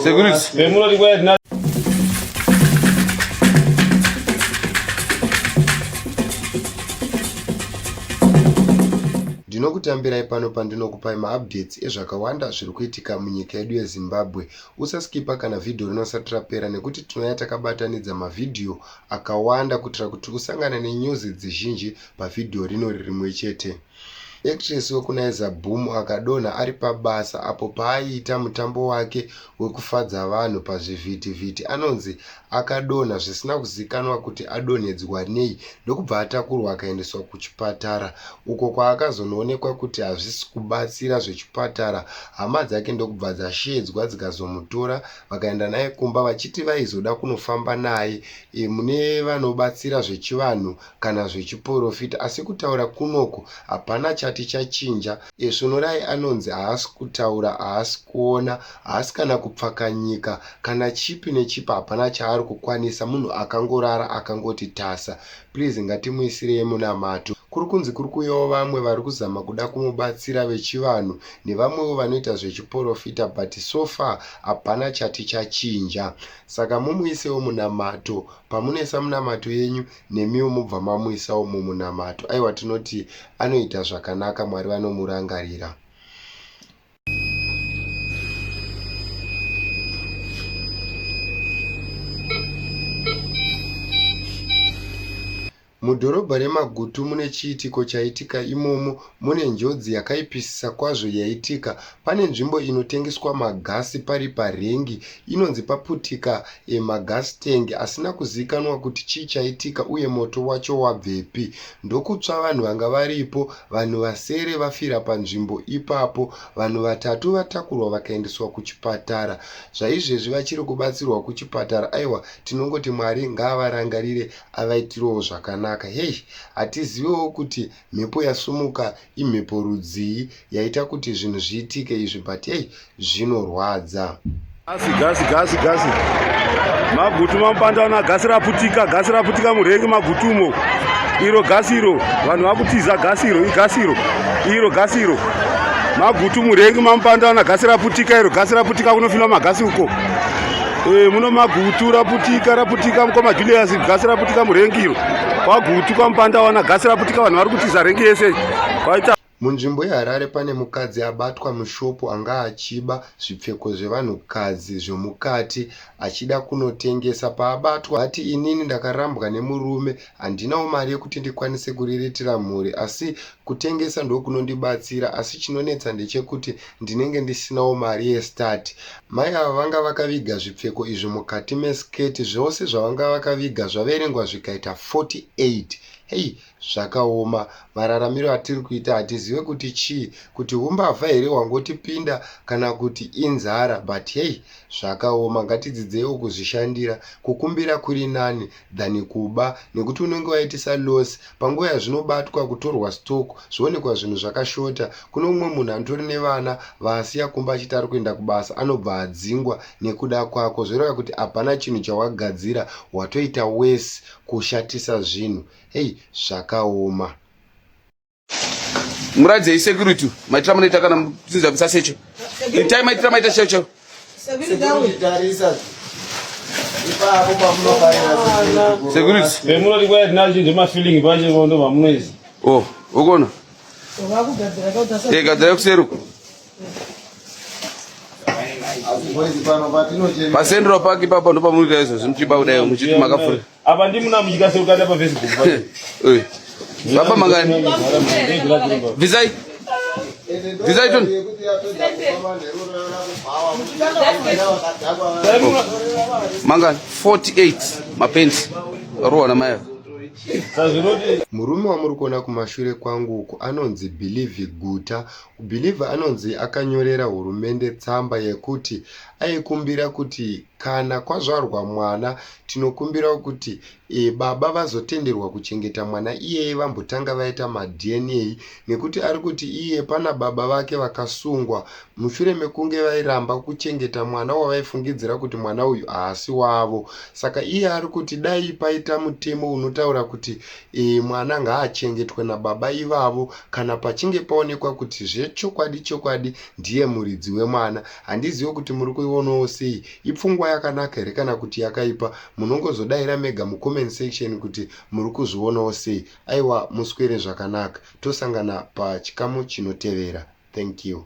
Security. Ndinokutambirai pano pandinokupai maupdates ezvakawanda zviri kuitika munyika yedu yeZimbabwe. Usaskipa kana vhidhiyo rinosati rapera nekuti tinouya takabatanidza mavhidhiyo akawanda kuitira kuti usangane nenyuzi dzizhinji pavhidhiyo rinori rimwe chete. Actress wekuNaiza Boom akadonha ari pabasa apo paaiita mutambo wake wekufadza vanhu pazvivhitivhiti anonzi akadonha zvisina kuzikanwa kuti adonhedzwa nei ndokubva atakurwa akaendeswa kuchipatara uko kwaakazonoonekwa kuti hazvisi kubatsira zvechipatara hama dzake ndokubva dzasheedzwa dzikazomutora vakaenda naye kumba vachiti vaizoda kunofamba naye e, mune vanobatsira zvechivanhu kana zvechiporofita asi kutaura kunoku hapana chati chachinja esvonorai anonzi haasi kutaura haasi kuona haasi kana kupfakanyika kana chipi nechipi hapana chaari kukwanisa munhu akangorara akangoti tasa please ngatimuisirei munamato kuri kunzi kuri kuyawo vamwe vari kuzama kuda kumubatsira vechivanhu nevamwewo vanoita zvechiporofita but so far hapana chati chachinja saka mumuisewo munamato pamunoisa munamato yenyu nemiwo mobva mamuisawo mumunamato aiwa tinoti anoita zvakanaka mwari vanomurangarira Mudhorobha reMagutu mune chiitiko chaitika imomo Mune njodzi yakaipisisa kwazvo yaitika. Pane nzvimbo inotengeswa magasi pari parengi inonzi paputika e, magasi tengi asina kuzivikanwa kuti chii chaitika uye moto wacho wabvepi. Ndokutsva vanhu vanga varipo, vanhu vasere vafira panzvimbo ipapo. Vanhu vatatu vatakurwa vakaendeswa kuchipatara. Zvaizvezvi vachiri kubatsirwa kuchipatara. Aiwa, tinongoti Mwari ngaavarangarire avaitirewo zvakanaka. Heyi, hatizivewo kuti Mhepo yasumuka imhepo rudzii yaita kuti zvinhu zviitike izvi but hey zvinorwadza. Gasi gasi gasi gasi magutu mamupandana gasi raputika gasi raputika murengi magutu umo iro gasi iro vanhu vakutiza gasi iro igasi iro iro gasi iro magutu murengi mamupandana gasi raputika iro gasi raputika kunofinwa magasi uko Eh, muno magutu raputika raputika mukoma julius gasi raputika murengiro kwagutu kwamupanda wana gasi raputika vanhu vari kutiza rengi yese kwaita munzvimbo yeharare pane mukadzi abatwa mushopu anga achiba zvipfeko zvevanhukadzi zvomukati achida kunotengesa paabatwa ati inini ndakarambwa nemurume handinawo mari yekuti ndikwanise kuriritira mhuri asi kutengesa ndokunondibatsira asi chinonetsa ndechekuti ndinenge ndisinawo mari yestart. Mai ava vanga vakaviga zvipfeko izvi mukati meskirt zvose zvavanga vakaviga zvaverengwa zvikaita 48 hei zvakaoma mararamiro atiri kuita hatizive kuti chii kuti humbavha here hwangotipinda kana kuti inzara but hei zvakaoma ngatidzidzeiwo kuzvishandira kukumbira kuri nani than kuba nekuti unenge waitisa loss panguva yazvinobatwa kutorwa stock zvoonekwa zvinhu zvakashota kune umwe munhu anotori nevana vaasiya kumba achiti ari kuenda kubasa anobva adzingwa nekuda kwako zvoreva kuti hapana chinhu chawagadzira watoita wese kushatisa zvinhu hei zvakaoma muradzei security maitira munoita kana muchinza bvisa secho itai maitira maita cheo cheo sekuritivemunoti kwaya tinacho ndemafeeling pache ndo mamunoizi o oh, ukona e gadzira kuseruko pasendro paki papa ndopamunoita izvozvi muchiba kudai muchiti makafurira Apa ndi muna mujika se ukada pa Facebook. Eh. Baba mangani. Vizai. Vizai tun. Mangani 48 mapenzi. Roa na maya. murume wamuri kuona kumashure kwangu uku anonzi bhilivhi guta bhilivhi anonzi akanyorera hurumende tsamba yekuti aikumbira kuti Kana kwazvarwa mwana tinokumbirawo kuti baba vazotenderwa kuchengeta mwana iyeye vambotanga vaita maDNA nekuti ari kuti iye pana baba vake vakasungwa mushure mekunge vairamba kuchengeta mwana wavaifungidzira kuti mwana uyu haasi wavo. Saka iye ari kuti dai paita mutemo unotaura kuti e, mwana ngaachengetwe nababa ivavo kana pachinge paonekwa kuti zvechokwadi chokwadi ndiye muridzi wemwana. Handizive kuti muri kuionawo sei, ipfungwa yakanaka here kana kuti yakaipa, munongozodaira mega mucomment section kuti muri kuzvionawo sei. Aiwa muswere zvakanaka, tosangana pachikamu chinotevera. Thank you.